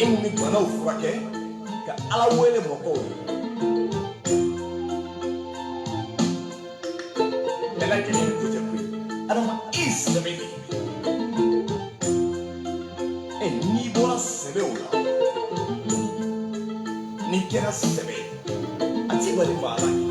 e ni banaw furakɛ ka ala wele mɔgɔw ye bɛɛ lajɛlen ko tɛ koyi adama i sɛbɛ de e n'i bɔra sɛbɛw la n'i kɛra sɛbɛ ye a t'i bali maa la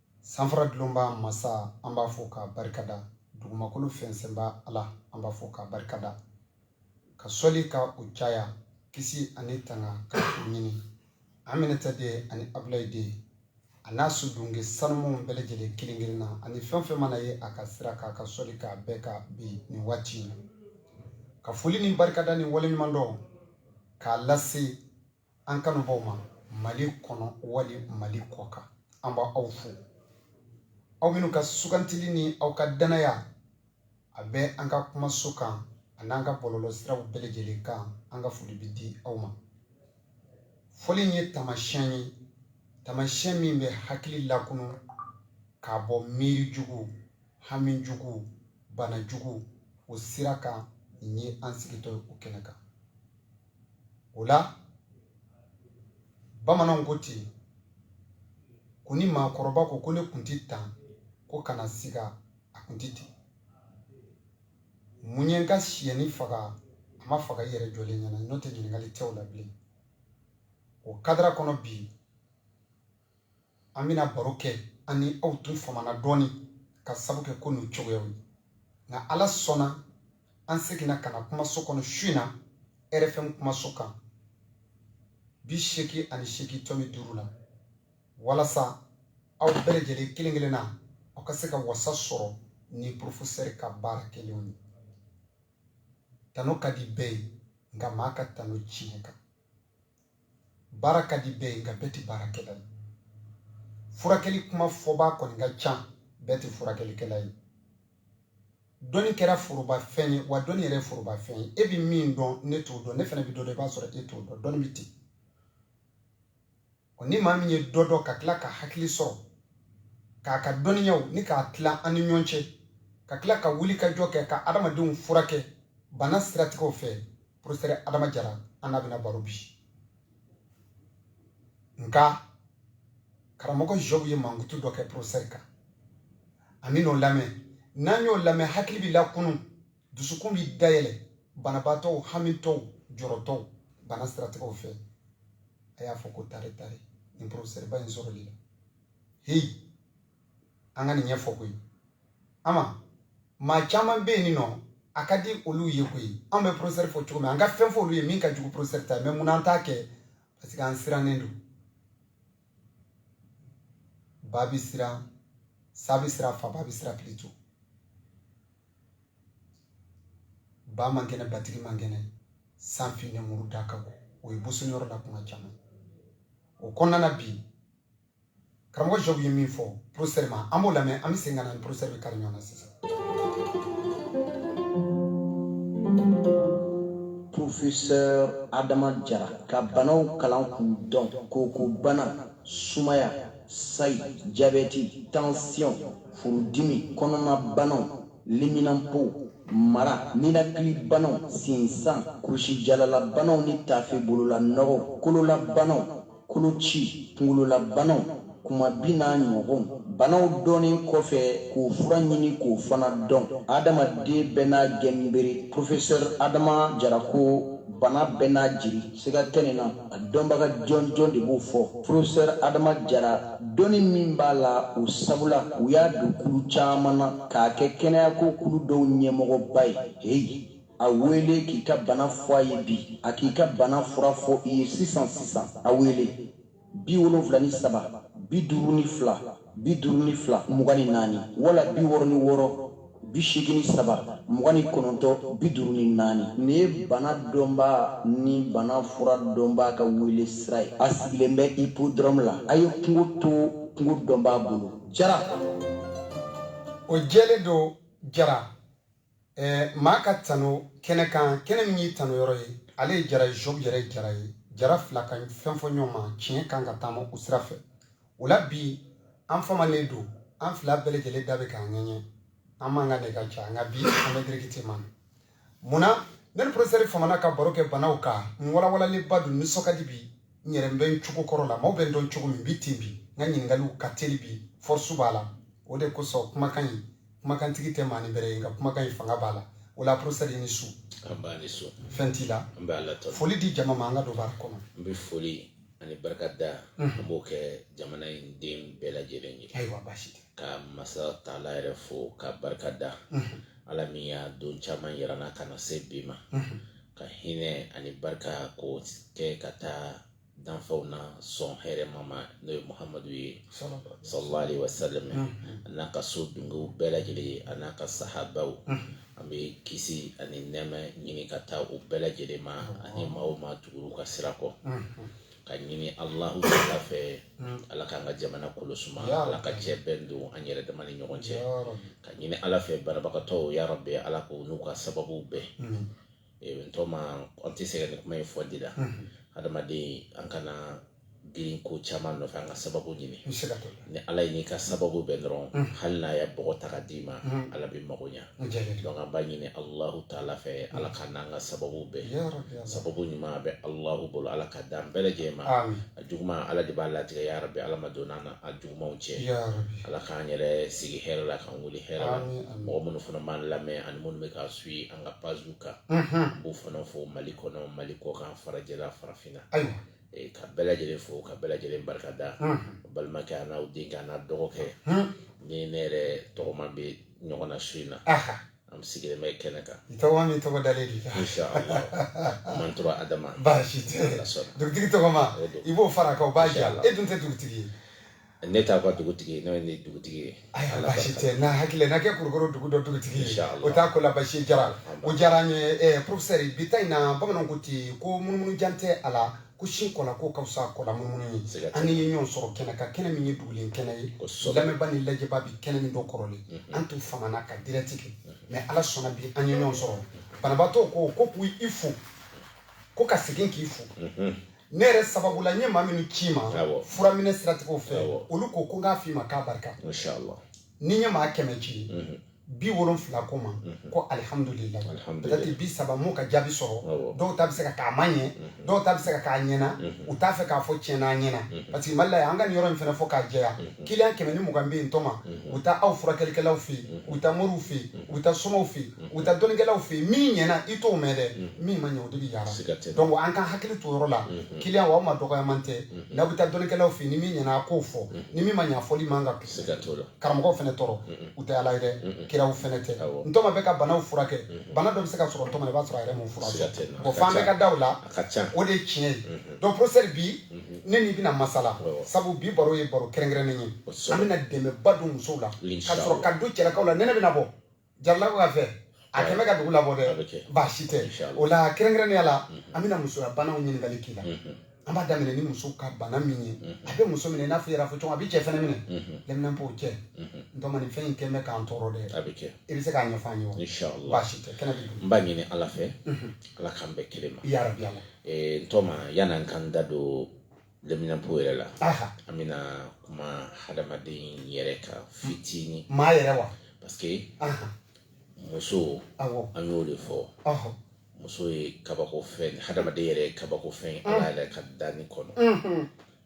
sanfara dulonba masa an b'a fɔ k'a barikada dugumakolo fɛnsɛnba ala an b'a fɔ k'a barikada ka sɔli ka o caya kisi ani tanga ka o ɲini aminata den ani abulayi den a n'a sudunge sanumanw bɛɛ lajɛlen kelen kelen na ani fɛn fɛn mana ye a ka sira kan ka sɔli k'a bɛɛ kan bi nin waati in na ka foli ni barikada ni waleɲuman dɔn k'a lase An kanubaw ma mali kɔnɔ wali mali kɔkan an b' aw fo aw minnu ka sugantili ni aw ka dannaya a bɛ an ka kumaso kan a n'an ka bɔlɔlɔ siraw bɛɛ lajɛlen kan an ka foli bɛ di aw ma foli in ye tamasiɲɛ ye tamasiɲɛ min bɛ hakili lakunu k'a bɔ miirijugu hamijugu banajugu o sira kan nin ye an sigitɔ o kɛnɛ kan o la bamananw ko ten ko ni maakɔrɔba ko ko ne kun di tan ko kana siga a kun di ten mun ye n ka siyɛnin faga a ma faga i yɛrɛ jɔlen ɲɛna n'o tɛ ɲininkali tɛ o la bilen o kadara kɔnɔ bi an bɛna baro kɛ an ni aw tun famana dɔɔnin ka sabu kɛ ko n'u cogoyaw ye nka ala sɔnna an seginna ka na kumaso kɔnɔ su in na rfm kumaso kan bi seegin ani seegin tɔmi duuru la walasa aw bɛɛ lajɛlen kelen kelen na aw ka se ka wasa sɔrɔ ni porofosɛri ka baara kɛlenw ye tanu ka di bɛɛ ye nka maa ka tanu tiɲɛ kan baara ka di bɛɛ ye nka bɛɛ tɛ baarakɛla ye furakɛli kuma fɔbaa kɔni ka ca bɛɛ tɛ furakɛlikɛla ye dɔnni kɛra foroba fɛn ye wa dɔnni yɛrɛ ye foroba fɛn ye e bɛ min dɔn ne t'o dɔn ne fana bɛ dɔ dɔn i b'a sɔrɔ e t'o dɔn dɔnni bɛ ten ni maa min ye dɔ dɔn ka tila ka hakili sɔrɔ k'a ka dɔnniyaw ni k'a tila an ni ɲɔgɔn cɛ ka tila ka wuli ka jɔ kɛ ka adamadenw furakɛ bana siratigɛw fɛ porofosɛri adama jara an n'a bɛna baro bi nka karamɔgɔ jobu ye mankutu dɔ kɛ porofosɛri kan an bɛn'o lamɛn n'an y'o lamɛn hakili bɛ lakunu dusukun bɛ dayɛlɛ banabaatɔw hamitɔw jɔrɔtɔw bana siratigɛw fɛ a y'a fɔ ko tare tare nin porofosɛriba in sɔrɔli la heyi an ka nin ɲɛfɔ koyi ama maa caman bɛ yen nin nɔ a ka di olu ye koyi an bɛ professeur fɔ cogo min an ka fɛn fɔ olu ye min ka jugu professeur ta mais munna an t'a kɛ parce que an sirannen don ba bɛ siran sa bɛ siran faabaa bɛ siran plutôt ba man kɛnɛ batigi man kɛnɛ san finnen muru da ka go o ye boso yɔrɔ la kuma caman o kɔnɔna na bi karamɔgɔ jɔbu ye min fɔ professeur ma an b'o lamɛn an bɛ segin ka na ni professeur bɛ kari ɲɔgɔn na sisan professeur adama jara ka banaw kalan k'u dɔn kokobana sumaya sayi jabɛti tansiyɔn furudimi kɔnɔnabanaw liminanpo mara ninakilibanaw sinsan kurusijalalabanaw ni tafe bolola nɔgɔ kololabanaw koloci kunkololabanaw kumabin n'a ɲɔgɔn banaw dɔnni kɔfɛ k'o fura ɲini k'o fana dɔn adamaden bɛɛ n'a gɛnbere profesɛr adama jara ko bana bɛɛ n'a jiri siga tɛ nin na a dɔnbaga jɔnjɔn de b'o fɔ profesɛr adama jara dɔnni min b'a la o sabula u y'a don kulu caman na k'a kɛ kɛnɛyako kulu dɔw ɲɛmɔgɔba ye heyi a wele k'i ka bana fɔ a ye bi a k'i ka bana fura fɔ i ye sisan sisan a wele bi wolonfila ni saba bi duuru ni fila bi duuru ni fila mugan ni naani wala bi wɔɔrɔ ni wɔɔrɔ bi seegin ni saba mugan ni kɔnɔntɔn bi duuru ni naani nin ye bana dɔnbaa ni bana fura dɔnbaa ka wele sira ye a sigilen bɛ ipodɔrɔmu la a ye kungo to kungo dɔnbaa bolo jara o jɛlen don jara Ɛɛ maa ka tano kɛnɛ kan kɛnɛ min y'i tano yɔrɔ ye ale ye jara ye job yɛrɛ ye jara ye jara fila ka fɛn fɔ ɲɔgɔn ma tiɲɛ kan ka taama o sira fɛ o la bi an famanen don an fila bɛɛ lajɛlen da bɛ k'an ŋɛɲɛ an man ka nɛgɛ cɛ nka bi an bɛ directement na mun na ne ni professeur famana ka baro kɛ banaw kan n walawalalenba don n nisɔn ka di bi n yɛrɛ n bɛ n cogo kɔrɔ la maaw bɛ n dɔn cogo min bi ten bi n ka ɲininkaliw ka teli bi force b'a la o de kosɔn kumakan in kumakantigi tɛ maanin bɛrɛ ye nka kumakan in fanga b'a la o la professeur i ni su nba i ni su fɛn t'i la an b'ala tanu foli di jama ma an ka don baara kɔnɔ n bɛ foli ani barika da an b'o kɛ jamana in den bɛɛ lajɛlen ye ayiwa baasi tɛ ka masa taala yɛrɛ fo ka barika da ala min ye don caman yira an na ka na se bi ma ka hinɛ ani barika k'o kɛ ka taa danfɛnw na sɔn hɛrɛma ma n'o ye muhamadu ye salalahu alayihi wasalam a n'a ka so dungew bɛɛ lajɛlen ye a n'a ka sahabaw an bɛ kisi ani nɛɛma ɲini ka taa u bɛɛ lajɛlen ma ani maa o maa tugura u ka sira kɔ ka ɲini alahu taala fɛ mm. ala k'an ka jamana kolo suma ala ka cɛ bɛn don an yɛrɛ dama ni ɲɔgɔn cɛ ka ɲini ala fɛ banabagatɔw ya rabi ala k'u n'u ka sababu bɛn mm. eh, n tɔma an tɛ sɛgɛn nin kuma in fɔli la mm. adamaden an kana girin ko caman nɔfɛ an ka sababu ɲini ni ala y'i n'i ka sababu bɛn dɔrɔn hali n'a ye bɔgɔ ta ka d'i ma ala bɛ mago ɲa An jɛ bɛ donc an b'a ɲini Alahu taala fɛ Ala k'an n'an ka sababu bɛn yarabi Ala sababu ɲuman a bɛ Alahu bolo Ala k'a d'an bɛɛ lajɛlen ma aami a juguma Ala de b'a latigɛ yarabi Ala ma donna an n'a jugumanw cɛ yarabi Ala k'an yɛrɛ sigi hɛrɛ la k'an wuli hɛrɛ la aami aami mɔgɔ minnu fana b'an lamɛn ani minnu bɛ k'an suivre an ka page kan unhun n b'u fana fo Mali kɔnɔ Mali kɔkan farajɛla farafinna ayiwa ka bɛɛ lajɛlen fo ka bɛɛ lajɛlen barika da balimakɛ an'aw denkɛ an'aw dɔgɔkɛ ni ne yɛrɛ tɔgɔma bɛ ɲɔgɔn na su in na an sigilen bɛ kɛnɛ kan tɔgɔma min tɔgɔ dalen de man tora adama baasi tɛ dugutigi tɔgɔma i b'o far'a kan baasi e dun tɛ dugutigi ye ne t'a ka dugutigi n'o ye dugutigi ye ayiwa baasi tɛ n'a hakili n'a kɛ kurukuru dugu dɔ dugutigi ye o t'a ko la basi jara o diyara n ye professeur bi ta in na bamananw ko ten ko munumunu jan tɛ a la ko sin kɔ la ko ka fisa kɔ lamunumunu ye an ye ɲɔgɔn sɔrɔ kɛnɛ kan kɛnɛ min ye dugulen kɛnɛ ye lamɛnba ni lajɛba bi kɛnɛ min don kɔrɔlen an tun famana ka direct kɛ mais ala sɔnna bi an ye ɲɔgɔn sɔrɔ banabaatɔ ko ko k'i fo ko ka segin k'i fo ne yɛrɛ sababu la n ye maa minnu ci ma Awɔ. furaminɛ siratigɛw fɛ Awɔ. olu ko ko n k'a f'i ma k'a barika Masha Allah. ni n ye maa kɛmɛ ci Mhm. biwolonfila ko n ma ko alihamudulila Alhamdulillah. peut-être bisaba m'u ka jaabi sɔrɔ Awɔ. dɔw ta bɛ se ka k'a ma ɲɛ dɔw ta bɛ se ka k'a ɲɛna u t'a fɛ k'a fɔ tiɲɛ na a ɲɛna parce que mali la yan an ka nin yɔrɔ in fana fɔ k'a jɛya kiliyan kɛmɛ ni mugan bɛ yen tɔma u bɛ taa aw furakɛlikɛlaw fɛ yen u bɛ taa moriw fɛ yen u bɛ taa somaw fɛ yen u taa dɔnnikɛlaw fɛ yen min ɲɛna i t'o mɛn dɛ min ma ɲɛ o de bɛ yaala Siga tɛ. donc an ka hakili to o yɔrɔ la kiliyanw aw ma dɔgɔyaman tɛ n'aw bɛ taa dɔnnikɛlaw fɛ yen ni min ɲɛna a k'o fɔ ni min ma ɲɛ a fɔli man kan ka siga t'o la karamɔgɔw fɛnɛ tɔɔrɔ u tɛ ala ye dɛ kiraw fɛnɛ tɛ Awɔ. ntɔma bɛ ka banaw furakɛ bana dɔ bɛ se ka sɔrɔ ntɔma na i b'a sɔrɔ a yɛrɛ m'o Siga furakɛ tɛ na. bon f'an bɛ ka da o la a ka ca o de ye tiɲɛ ye donc professeur bi ne n'i bɛna masala Awɔ. sabu bi baro ye baro kɛrɛnkɛrɛnnen ye Kosɛbɛ. an bɛna dɛmɛba don musow la ka Inshallah. sɔrɔ ka don cɛlakaw la nɛnɛ bɛna bɔ jaralakaw kafe a kɛlen bɛ ka dugu labɔ dɛ baasi tɛ o la kɛrɛnkɛrɛnnenya la mhm. an bɛna musoya banaw ɲininkali k'i la mhm. an b'a daminɛ ni muso ka bana min ye mhm. a bɛ muso minɛ n'a fɔ yɛrɛ fɔ cogo a bɛ cɛ fɛnɛ minɛ lɛminɛnpo cɛ ntɔma nin fɛn in kɛlen bɛ k'an tɔɔrɔ dɛ a bɛ kɛ i bɛ se k'a ɲɛfɔ an ye wa baasi tɛ kɛnɛ bɛ n b'a ɲini ala fɛ ala k'an bɛɛ kelen ma yarabi ala ntɔma yan'an k'an da don daminɛ point yɛrɛ la an bɛna kuma hadamaden yɛrɛ kan fitinin maa yɛrɛ wa parce que muso an y'o de fɔ muso ye kabako fɛn hadamaden yɛrɛ ye kabako fɛn ala yɛrɛ ka danni kɔnɔ mm-hmm.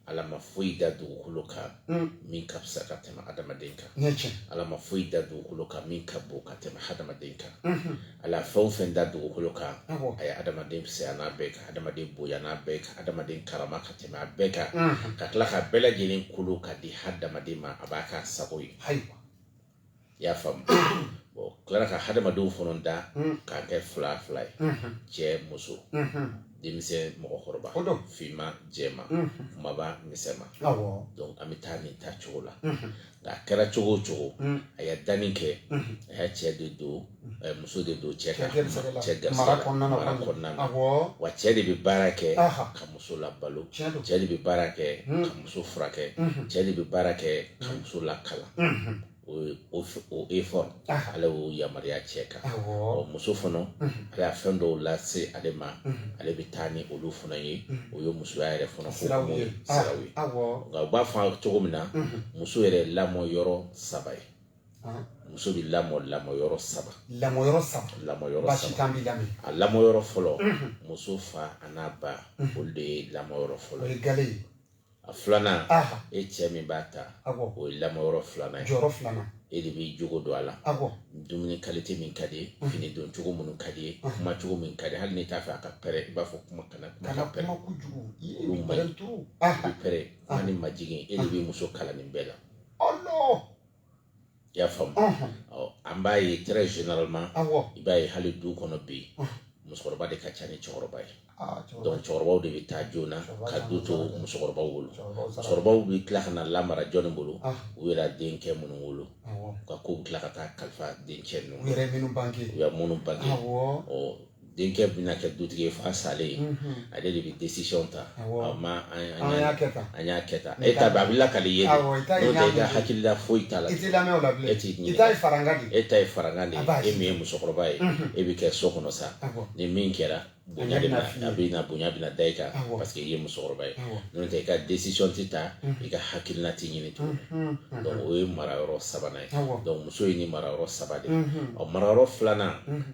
ala ma foyi da dugukolo kan mm. min ka fisa ka tɛmɛ hadamaden kan ala ma foyi da dugukolo kan min ka bon ka tɛmɛ hadamaden kan mm-hmm. ala fɛn o fɛn da dugukolo kan a ye adamaden fisaya n'a bɛɛ kan adamaden bonya n'a bɛɛ kan adamaden karama ka tɛmɛ a bɛɛ kan ka tila k'a bɛɛ lajɛlen kolo k'a di hadamaden ma a b'a k'a sago ye i y'a faamu bon tilara ka hadamadenw fana da k'a kɛ fila fila ye cɛ muso denmisɛn mɔgɔkɔrɔba finman jɛman kunbaba misɛnman donc an bɛ taa nin ta cogo la nka a kɛra cogo o cogo mm. a ye danni kɛ mm-hmm. a y'a cɛ de don eh, muso de don cɛ ka cɛ garisɛgɛ mara kɔnɔna na wa cɛ de bɛ baara kɛ ka muso labalo cɛ de bɛ baara kɛ mm. ka muso furakɛ mm-hmm. cɛ de bɛ baara kɛ ka mm. muso lakalan mm-hmm. o effort ah. ala y'o yamaruya cɛ kan ɔ muso fana mhm. ala ye fɛn dɔw lase ale ma mhm. ale bɛ taa ni olu fana ye mhm. o ye musoya yɛrɛ fana siraw ye ah, siraw ye nka u b'a fɔ cogo min na muso yɛrɛ lamɔ yɔrɔ saba ye ah. muso bɛ lamɔ lamɔ yɔrɔ saba lamɔ yɔrɔ saba lamɔ yɔrɔ saba basi t'an b'i lamɛn a lamɔ yɔrɔ fɔlɔ muso fa an'a ba olu de ye lamɔ yɔrɔ fɔlɔ o ye galɛ ye a filanan e cɛ min b'a ta o ye lamɔ yɔrɔ filanan ye jɔyɔrɔ filanan e de b'i jogo don a la dumuni kalite min ka d'i ye fini don cogo minnu ka d'i ye kuma cogo min ka di hali n'i t'a fɛ a ka pɛrɛ i b'a fɔ kuma kana kuma ka pɛrɛ olu man ɲi i bɛ kuma ni majigin e de b'i muso kalan nin bɛɛ la i y'a faamu ɔ an b'a ye très généralement i b'a ye hali du kɔnɔ bi musokɔrɔba de ka ca ni cɛkɔrɔba ye ah, donc cɛkɔrɔbaw de bɛ taa joona ka du to musokɔrɔbaw bolo musokɔrɔbaw bɛ tila ka na lamara jɔnni bolo ah. u yɛrɛ denkɛ minnu wolo u ka kow bɛ tila ka taa kalifa denkɛ ninnu u yɛrɛ minnu bange u yɛrɛ minnu bange ɔ denkɛ bɛna kɛ dutigi ye fa salen ye ale de bɛ décision ta an y'a kɛ tan e ta a bɛ lakali i ye n'o tɛ i ka hakilila foyi t'a la e t'i ɲininka e ta ye farankan de ye e min ye musokɔrɔba ye e bɛ kɛ so kɔnɔ sa ni min kɛra bonya a bɛ na bonya bɛ da i kan parce que i ye musokɔrɔba ye n'o tɛ i ka décision tɛ ta i ka hakilila tɛ ɲini tuguni donc o ye mara yɔrɔ sabanan ye muso ye ni mara yɔrɔ saba de ye ɔ mara yɔrɔ filanan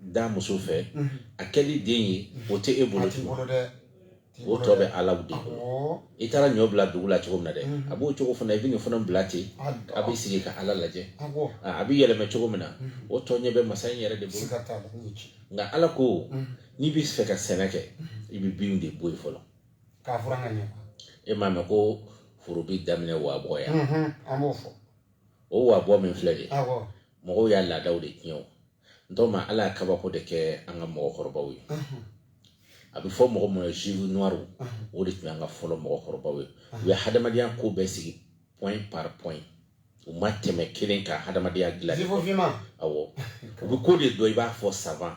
da muso fɛ a kɛli den ye o tɛ e bolo o tɔ bɛ ala de bolo i taara ɲɔ bila dugu la cogo min na dɛ a b'o cogo fana i bɛ nin fana bila ten a bɛ sigi ka ala lajɛ a bɛ yɛlɛmɛ cogo min na o tɔ ɲɛ bɛ masa in yɛrɛ de bolo nka ala ko n'i bɛ fɛ ka sɛnɛ kɛ i bɛ bin de bɔ yen fɔlɔ e m'a mɛn ko foro bɛ daminɛ wabɔ yan o wabɔ min filɛ de mɔgɔw y'a laadaw de tiɲɛ nɔntɛ ma ala y'a kabako de kɛ an ka mɔgɔkɔrɔbaw ye a bɛ fɔ mɔgɔ minnu ye juifs noirs o de tun y'an ka fɔlɔ mɔgɔkɔrɔbaw ye u ye hadamadenya ko bɛɛ sigi point par point u ma tɛmɛ kelen kan hadamadenya dilan awɔ u bɛ ko de dɔn i b'a fɔ savant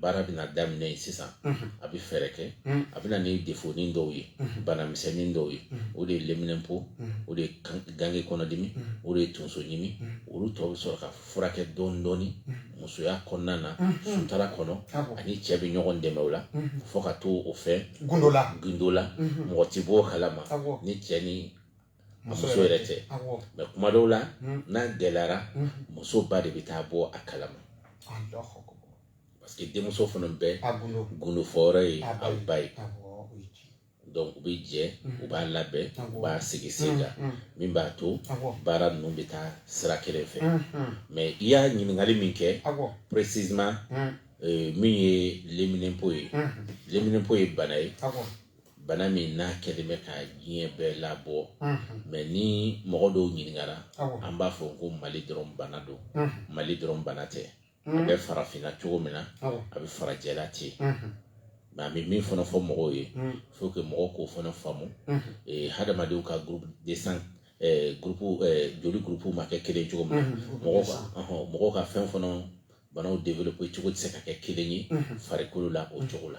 baara bɛna daminɛ yen sisan a bɛ fɛɛrɛ kɛ a bɛ na ni defonin dɔw ye banamisɛnnin dɔw ye o de ye leminɛnpo o de ye gange kɔnɔdimi o de ye tonsoɲimi olu tɔ bɛ sɔrɔ ka furakɛ dɔɔni dɔɔni musoya kɔnɔna na sutura kɔnɔ a ni cɛ bɛ ɲɔgɔn dɛmɛ o la fo ka to o fɛ gundo la gundo la mɔgɔ tɛ bɔ o kalama ni cɛ ni muso yɛrɛ tɛ mais kuma dɔw la hmm. n'a gɛlɛyara hmm. muso ba de bɛ taa bɔ a kalama parce que denmuso fana bɛɛ gundofɔyɔrɔ ye a ba ye donc u bɛ jɛ hmm. u b'a labɛn u b'a sigi sen kan min b'a to baara ninnu bɛ taa sira kelen fɛ mais i y'a ɲininkali min kɛ précisément euh, min ye leminɛnpo ye leminɛnpo ye bana ye bana min n'a kɛlen bɛ ka diɲɛ bɛɛ labɔ mais ni mɔgɔ dɔw ɲininkara an b'a fɔ ko mali dɔrɔn bana don mali dɔrɔn bana tɛ a bɛ farafinna cogo min na a bɛ farajɛla ten nka an bɛ min fana fɔ mɔgɔw ye faut que mɔgɔ k'o fana faamu hadamadenw ka groupe de sang joli groupe ma kɛ kelen cogo min na mɔgɔw ka fɛn fana banaw développer cogo tɛ se ka kɛ kelen ye farikolo la o cogo la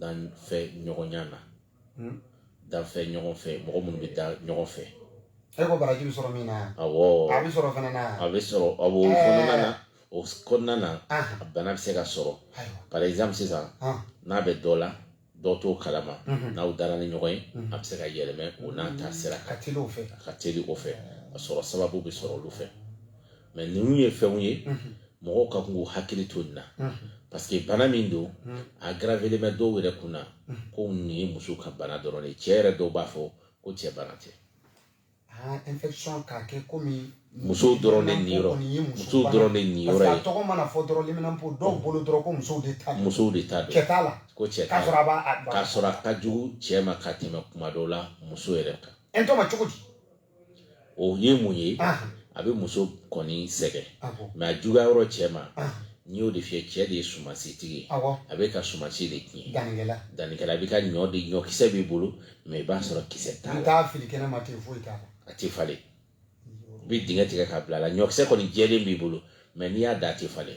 danfɛ ɲɔgɔnya na hmm? danfɛ ɲɔgɔn fɛ mɔgɔ minnu bɛ da ɲɔgɔn fɛ e ko baraji bɛ sɔrɔ min na yan awɔ a bɛ sɔrɔ fana na a bɛ sɔrɔ awɔ o kɔnɔna na o kɔnɔna na a bana bɛ se ka sɔrɔ par exemple sisan n'a bɛ dɔ la dɔ t'o kalama mhm. n'aw dara ni ɲɔgɔn ye mhm. a bɛ se ka yɛlɛmɛ o n'a ta sira ka teli o fɛ ka teli o fɛ a sɔrɔ sababu bɛ sɔrɔ olu fɛ mais ninnu ye fɛnw ye mɔgɔw ka kan k'u hakili to nin na parce que bana min don a gravelen bɛ dɔw yɛrɛ kun na ko nin ye muso ka bana dɔrɔn de ye cɛ yɛrɛ dɔw b'a fɔ ko cɛ bana tɛ musow dɔrɔn de niyɔrɔ musow dɔrɔn de niyɔrɔ ye musow de ta don ko cɛ t'a la k'a sɔrɔ a ka jugu cɛ ma ka tɛmɛ kuma dɔw la muso yɛrɛ kan o ye mun ye a bɛ muso kɔni sɛgɛn mais a juguya yɔrɔ cɛ ma n'i y'o de fiyɛ cɛ de ye sumansitigi ye a bɛ ka sumansi de tiɲɛ dannikɛla i bɛ ka ɲɔ de ɲɔkisɛ b'i bolo mais i b'a sɔrɔ kisɛ t'a la a tɛ falen i bɛ dingɛ tigɛ k'a bila a la ɲɔkisɛ kɔni jɛlen b'i bolo mais n'i y'a da a tɛ falen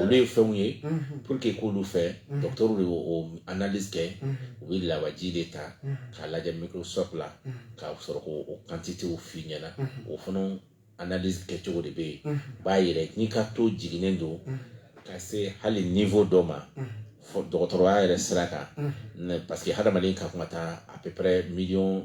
olu ye fɛnw ye pour que k'olu fɛ dɔgɔtɔrɔw de y'o analyse kɛ u bɛ lawaji de ta k'a lajɛ microscope la k'a sɔrɔ k'o o quantité f'i ɲɛna o fana analyse kɛcogo de bɛ yen u b'a yira n'i ka taux jiginnen don ka se hali niveau dɔ ma dɔgɔtɔrɔya yɛrɛ sira kan parce que hadamaden ka kan ka taa à peu près miliyɔn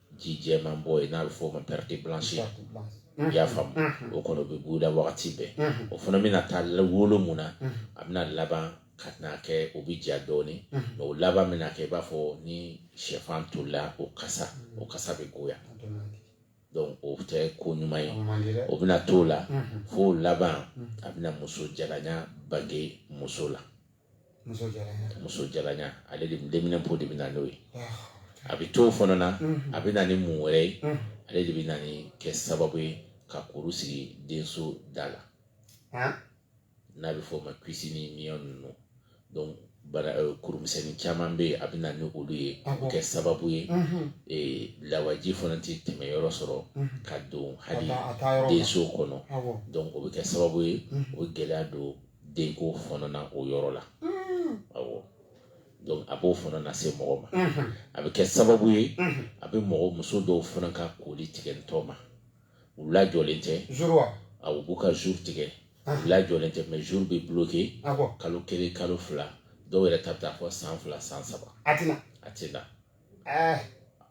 ji jɛman bɔ ye n'a bɛ fɔ o ma perte blanche i y'a faamu o kɔnɔ bɛ buguda wagati bɛɛ o fana bɛna taa wolo mun na a bɛna laban ka na kɛ o bɛ ja dɔɔnin mais o laban bɛna kɛ i b'a fɔ ni sɛfan tolila o kasa o kasa bɛ goya donc o tɛ ko ɲuman ye o bɛna t'o la fo laban a bɛna muso jalanya bange muso la muso jalanya muso jalanya ale de leminɛnpo de bɛ na n'o ye a bɛ t'o fana na a bɛ na ni mun wɛrɛ ye ale de bɛ na ni kɛ sababu ye ka kuru sigi denso da la n'a bɛ fɔ o ma kyste ni myome ninnu donc bana kurumisɛnnin caman bɛ yen a bɛ na ni olu ye a bɛ kɛ sababu ye lawaji fana tɛ tɛmɛ yɔrɔ sɔrɔ ka don hali denso kɔnɔ donc o bɛ kɛ sababu ye o gɛlɛya don denko fana na o yɔrɔ la awɔ donc a b'o fana lase mɔgɔ ma a bɛ kɛ sababu ye a bɛ mɔgɔ muso dɔw fana ka koli tigɛ ntɔ ma u lajɔlen tɛ a u b'u ka jour tigɛ u lajɔlen tɛ mais jour bɛ bloquer kalo kelen kalo fila dɔw yɛrɛ ta bɛ taa fo san fila san saba a tɛ na ah.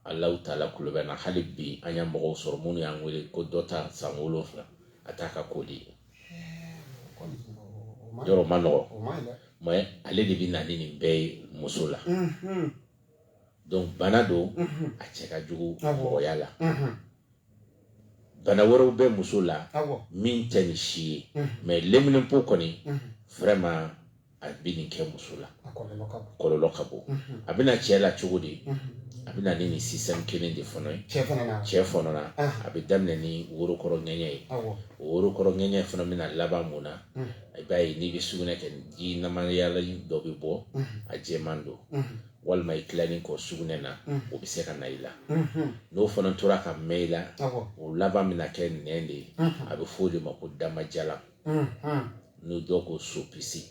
Alahu taala kulo bɛ na hali bi an y'a mɔgɔw sɔrɔ minnu y'an wele ko dɔ ta san wolonfila a t'a ka koli yɔrɔ ma nɔgɔ mais ale de bɛ na ni nin bɛɛ ye muso la mm-hmm. donc bana don mm-hmm. a cɛ ka jugu mɔgɔya la mm-hmm. bana wɛrɛw bɛ muso la min tɛ nin si ye mais leminɛnpo kɔni vraiment a bɛ nin kɛ muso la kɔlɔlɔ ka bon mhm. a bɛ na cɛ la cogo di mhm. a bɛ na ni nin système kelen de fana ye cɛ fana na ah. a bɛ daminɛ ni worokɔrɔ ŋɛɲɛ ye o worokɔrɔ ŋɛɲɛ fana bɛna laban mun na mhm. i b'a ye n'i bɛ sugunɛ kɛ ji namayala dɔ bɛ bɔ a jɛman don walima i tilalen kɔ sugunɛ na o bɛ se ka na i la n'o fana tora ka mɛɛn i la o laban bɛna kɛ nɛn de ye a bɛ fɔ o de ma ko damajalan n'o dɔw ko sopisi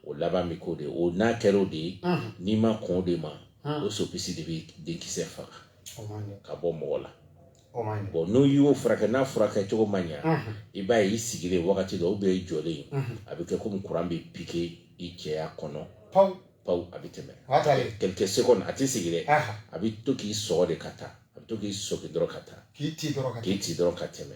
o laban bɛ k'o de o n'a kɛra o de ye n'i ma kɔn o de ma o sopisi de bɛ denkisɛ faga ka bɔ mɔgɔ la bon n'i y'o furakɛ n'a furakɛ cogo ma ɲɛ i b'a ye i sigilen wagati dɔ i jɔlen a bɛ kɛ komi kuran bɛ piqué i cɛya kɔnɔ paw a bɛ tɛmɛ quelques secondes a tɛ sigi dɛ a bɛ to k'i sɔgɔ de ka taa a bɛ to k'i sɔgɔ dɔrɔn ka taa k'i ci dɔrɔn ka tɛmɛ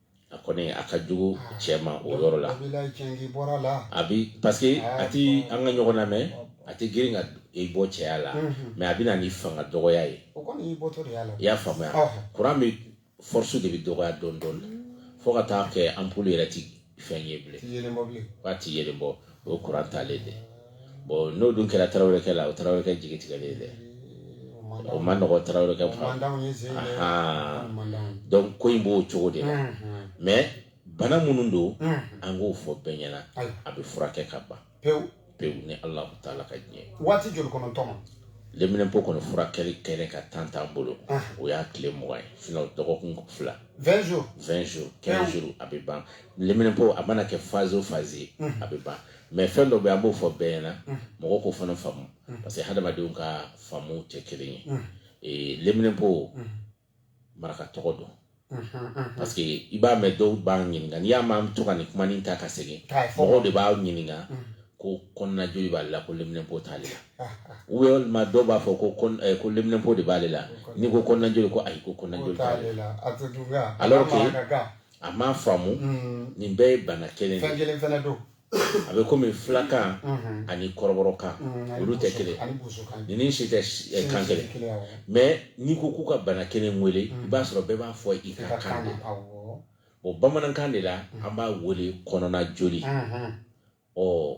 a kɔni a ka jugu cɛ ma o yɔrɔ la a bi parce que a tɛ an ka ɲɔgɔn lamɛn a tɛ girin ka i bɔ cɛya la mais a bɛ na ni fanga dɔgɔya ye i y'a faamuya kuran bɛ force de bɛ dɔgɔya dɔɔnin dɔɔnin fo ka taa kɛ ampoule yɛrɛ tɛ fɛn ye bilen a tɛ yeelen bɔ o ye kuran talen de bon n'o dun kɛra tarawelekɛ la o tarawelekɛ jigi tigɛlen dɛ o ma nɔgɔ tarawelekɛ donc ko in b'o cogo de la mais bana minnu don an k'o fɔ bɛɛ ɲɛna a bɛ furakɛ ka ban pewu pewu ni ala taala ka diɲɛ waati joli kɔnɔ n tɔma leminɛnpo kɔni furakɛli kɛnɛ ka temps t'an bolo o y'a tile mugan ye sinon dɔgɔkun fila vingt jours quinze jours a bɛ ban leminɛnpo a mana kɛ phase o phase ye a bɛ ban mais fɛn dɔ bɛ an b'o fɔ bɛɛ ɲɛna mɔgɔw k'o fana faamu parce que hadamadenw ka faamu tɛ kelen ye ee leminɛnpo maraka tɔgɔ don parce que i b'a mɛn dɔw b'a ɲininka n'i y'a mɛn to ka nin kuma ta ka segin mɔgɔw de b'a ɲininka ko kɔnɔna joli b'ale la ko leminɛnpo t'ale la ou bien walima dɔw b'a fɔ ko ko leminɛnpo de b'ale la n'i ko kɔnɔna joli ko ayi ko kɔnɔna joli t'ale la alors que a m'a faamu mm. nin bɛɛ ye bana kelen fɛn kelen fana don a bɛ komi fulakan mm-hmm. ani kɔrɔbɔrɔkan mm, olu tɛ kelen ninnu si tɛ eh, kan kelen mais n'i ko k'u ka bana kelen wele i mm. b'a sɔrɔ bɛɛ b'a fɔ i ka kan de o bamanankan de la an b'a wele kɔnɔna joli mm-hmm. ɔ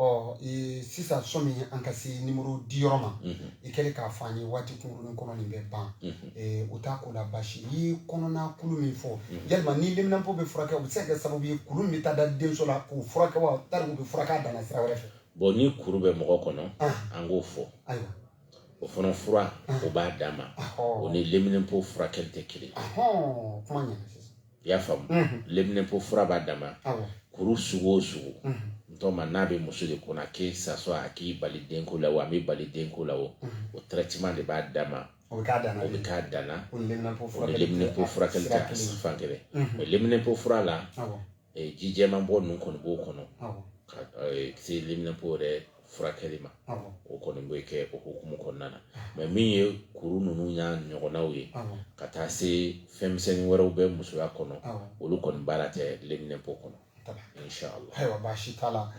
ɔ ee, sisan sɔmi an ka se nimɔrɔ di yɔrɔ ma mhm. i kɛlen k'a fɔ an ye waati kunkurunin kɔnɔ nin bɛ ban mhm. ee, o t'a ko la basi i ye kɔnɔna kuru min fɔ mhm. yalima ni leminanpo bɛ furakɛ o bɛ se ka kɛ sababu ye kuru min bɛ taa da denso la k'o furakɛ wa tari u bɛ furakɛ a danna sira wɛrɛ fɛ bon ni kuru bɛ mɔgɔ kɔnɔ ah. an k'o fɔ ayiwa o fana fura ah. o b'a danma o ni leminanpo furakɛli tɛ kelen kuma ɲɛna sisan i y'a faamu leminɛnpo fura b'a dama kuru sugu o sugu n tɔma n'a bɛ muso de kɔnɔ que ça soit a k'i bali denko la o a m'i bali denko la o o traitement de b'a dama o bɛ kɛ a danna o ni leminɛnpo furakɛli tɛ fan kelen mais leminɛnpo fura la jijɛman bɔ ninnu kɔni b'o kɔnɔ ka se leminɛnpo yɛrɛ furakɛli ma o kɔni bɛ kɛ o hukumu kɔnɔna na mais min ye kuru ninnu y'a ɲɔgɔnnaw ye ka taa se fɛnmisɛnnin wɛrɛw bɛ musoya kɔnɔ olu kɔni baara tɛ lenminɛnpo kɔnɔ ayiwa baasi t'a la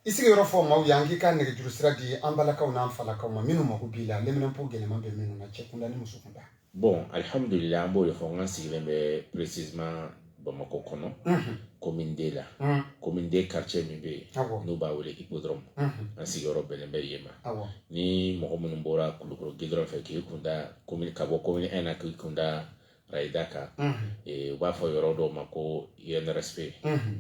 i sigiyɔrɔ fɔ maaw ye an k'i ka nɛgɛjuru sira di an balakaw n'an falakaw ma minnu mako b'i la lenminɛnpo gɛlɛman bɛ minnu na cɛ kunda ni muso kunda bon alihamudulila an b'o de fɔ n ka sigilen bɛ précisément bamakɔ kɔnɔ commune deux la commune deux quartier min bɛ yen n'u b'a wele Hippodrome an sigiyɔrɔ bɛnnen bɛ yen ma ni mɔgɔ minnu bɔra kulukoro gidɔrɔn fɛ k'i kun da ka bɔ commune un na k'i kun da rayida kan u b'a fɔ yɔrɔ dɔw ma ko INRSP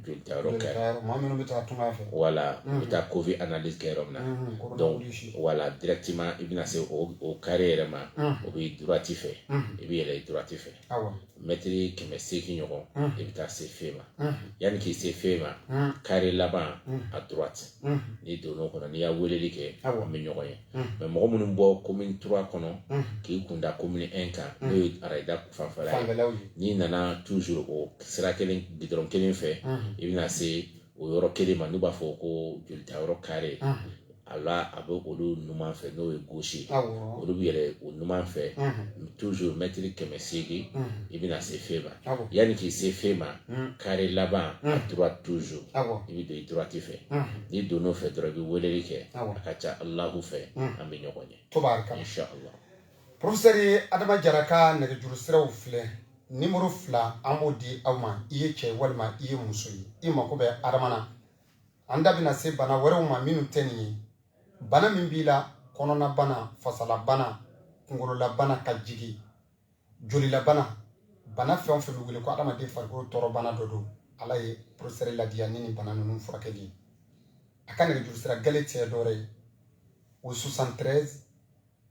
jolitayɔrɔ kɛ maa minnu bɛ taa tunga fɛ voilà u bɛ taa covid analyse kɛ yɔrɔ min na donc voilà directement i bɛna se o kare yɛrɛ ma o bɛ droite fɛ i bɛ yɛlɛ droite fɛ mɛtiri kɛmɛ seegin ɲɔgɔn i bɛ taa se fe ma yanni k'i se fe ma kare laban à droite n'i donna o kɔnɔ n'i y'a weleli kɛ an bɛ ɲɔgɔn ye mais mɔgɔ minnu bɔ commune trois kɔnɔ k'i kunda commune un kan n'o ye arayida fanfɛla fanfɛlaw ye n'i nana toujours o sira kelen gidɔrɔn kelen fɛ i bɛna se o yɔrɔ kelen ma n'u b'a fɔ ko jolitayɔrɔ kare a la a bɛ olu numan fɛ n'o ye gauche ye olu bɛ yɛlɛ o numan fɛ toujours mɛtiri kɛmɛ seegin i bɛna se fe ma yanni k'i se fe ma kare laban à droite toujours i bɛ don i droite fɛ n'i donn'o fɛ dɔrɔn i bɛ weleli kɛ a ka ca alahu fɛ an bɛ ɲɔgɔn ye inshallah Professeur adama jara ka nɛgɛjuru siraw filɛ nimɔrɔ fila an b'o di aw ma i ye cɛ walima i ye muso ye i mako bɛ adama na an da bɛna se bana wɛrɛw ma minnu tɛ nin ye bana min b'i la kɔnɔna bana fasala bana kunkolola bana ka jigi jolila bana bana fɛn o fɛn bɛ wele ko adamaden farikolo tɔɔrɔbana dɔ don ala ye professeur ladiya ni nin bana ninnu furakɛli ye a ka nɛgɛjuru sira gale tɛ dɔwɛrɛ ye o 73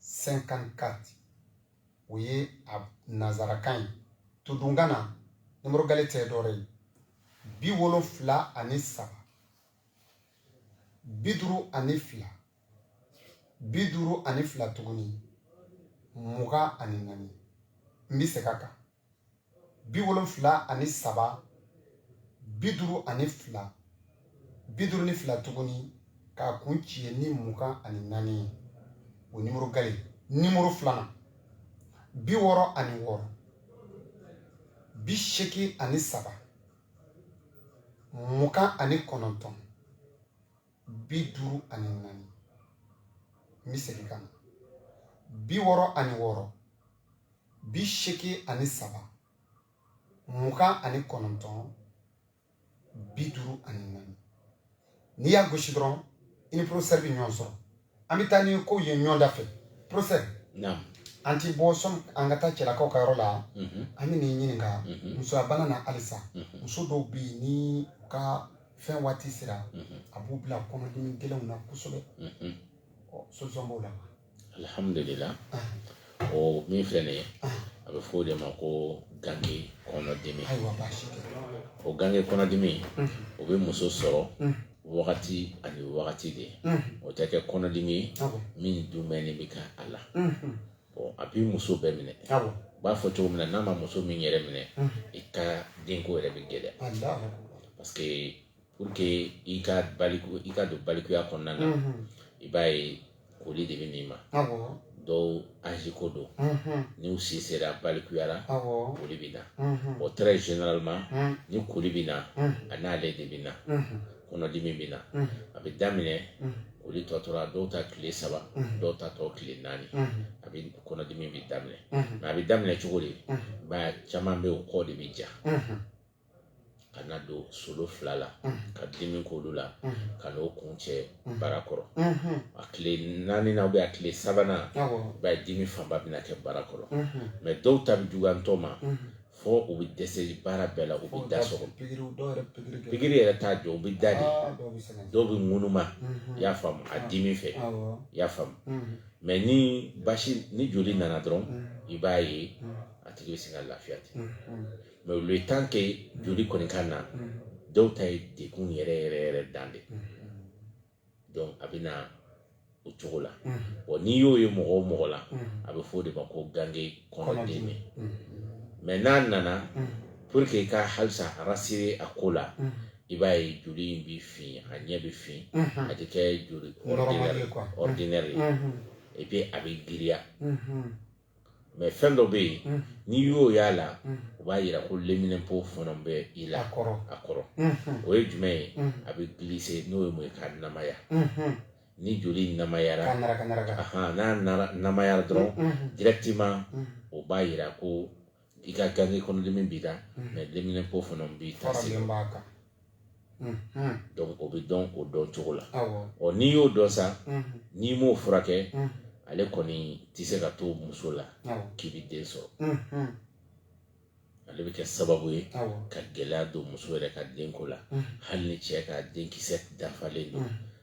54 o ye a nanzarakan ye todunkan na nimɔrɔ gale tɛ dɔwɛrɛ ye bi wolonfila ani saba bi duuru ani fila bi duuru ani fila tuguni mugan ani naani n bɛ segin a kan bi wolonfila ani saba bi duuru ani fila bi duuru ni fila tuguni k'a kuncɛ ni mugan ani naani ye o nimɔrɔ gale nimɔrɔ filanan bi wɔɔrɔ ani wɔɔrɔ bi seegin ani saba mugan ani kɔnɔntɔn bi duuru ani naani n bɛ segin ka na bi wɔɔrɔ ani wɔɔrɔ bi seegin ani saba mugan ani kɔnɔntɔn bi duuru ani naani n'i y'a gosi dɔrɔn i ni professeur bɛ ɲɔgɔn sɔrɔ an bɛ taa ni kow ye ɲɔgɔn da fɛ professeur an ti bɔ sɔn an ka taa cɛlakaw ka yɔrɔ la mhm. an bɛ n'i ɲininka mhm. musoyabana na halisa mhm. muso dɔw bɛ yen ni u ka fɛn waati sera a b'u bila kɔnɔdimi gɛlɛnw na kosɛbɛ solution b'o la alhamdulillah ah. o min filɛ nin ye a bɛ fɔ o de ma ko gange kɔnɔdimi o gange kɔnɔdimi o bɛ muso sɔrɔ wagati ani wagati de o tɛ kɛ kɔnɔdimi ye min dumuni bɛ kɛ a la a bɛ muso bɛɛ minɛ u b'a fɔ cogo min na n'a ma muso min yɛrɛ minɛ i ka denko yɛrɛ bɛ gɛlɛya parce que pour que i ka baliku i ka don balikuya kɔnɔna na i b'a ye koli de bɛ n'i ma dɔw âge ko don n'u si sera balikuya la koli bɛ na bon très généralement ni koli bɛ na a n'ale de bɛ na kɔnɔdimi bɛ na a bɛ daminɛ koli tɔ tora dɔw ta tile saba dɔw ta tɔ tile naani a bɛ kɔnɔdimi bɛ daminɛ nka a bɛ daminɛ cogo di ba caman bɛ o kɔ de bɛ ja ka na don solo fila la ka dimi k'olu la ka n'o kuncɛ bara kɔrɔ a tile naani na ou bien a tile sabanan ba dimi fanba bɛna kɛ bara kɔrɔ mais dɔw ta bɛ juguya ntɔ ma fo u bɛ dɛsɛ baara bɛɛ la u bɛ da sɔgɔ pikiri yɛrɛ t'a jɔ u bɛ da de dɔw bɛ ŋunuma i y'a faamu a dimi fɛ i y'a faamu mais ni basi ni joli nana dɔrɔn i b'a ye a tigi bɛ se ka lafiya ten mais le temps que joli kɔni ka na dɔw ta ye degun yɛrɛ yɛrɛ yɛrɛ dan de donc a bɛ na o cogo la wa n'i y'o ye mɔgɔ o mɔgɔ la a bɛ fɔ o de ma ko gange kɔnɔdimi mais n'a nana pour que i ka halisa rassurer a ko la i b'a ye joli in bɛ fin a ɲɛ bɛ fin a tɛ kɛ joli ordinaire ye et puis a bɛ giriya mais fɛn dɔ bɛ yen mm. n'i y'o y'a la mm. o b'a jira ko leminɛnpo fana bɛ i la a kɔrɔ mm-hmm. o ye jumɛn ye mm. a bɛ glisser n'o ye mun ye ka namaya mm-hmm. ni joli namayara n'a namayara dɔrɔn mm-hmm. directement o b'a jira ko i ka gange kɔnɔdimi b'i la mais leminɛnpo fana b'i ta segin donc o bɛ dɔn o dɔn cogo la ɔ n'i y'o dɔn sa n'i m'o furakɛ ale kɔni tɛ se ka to muso la k'i bɛ den sɔrɔ ale bɛ kɛ sababu ye ka gɛlɛya don muso yɛrɛ ka denko la hali ni cɛ ka denkisɛ dafalen don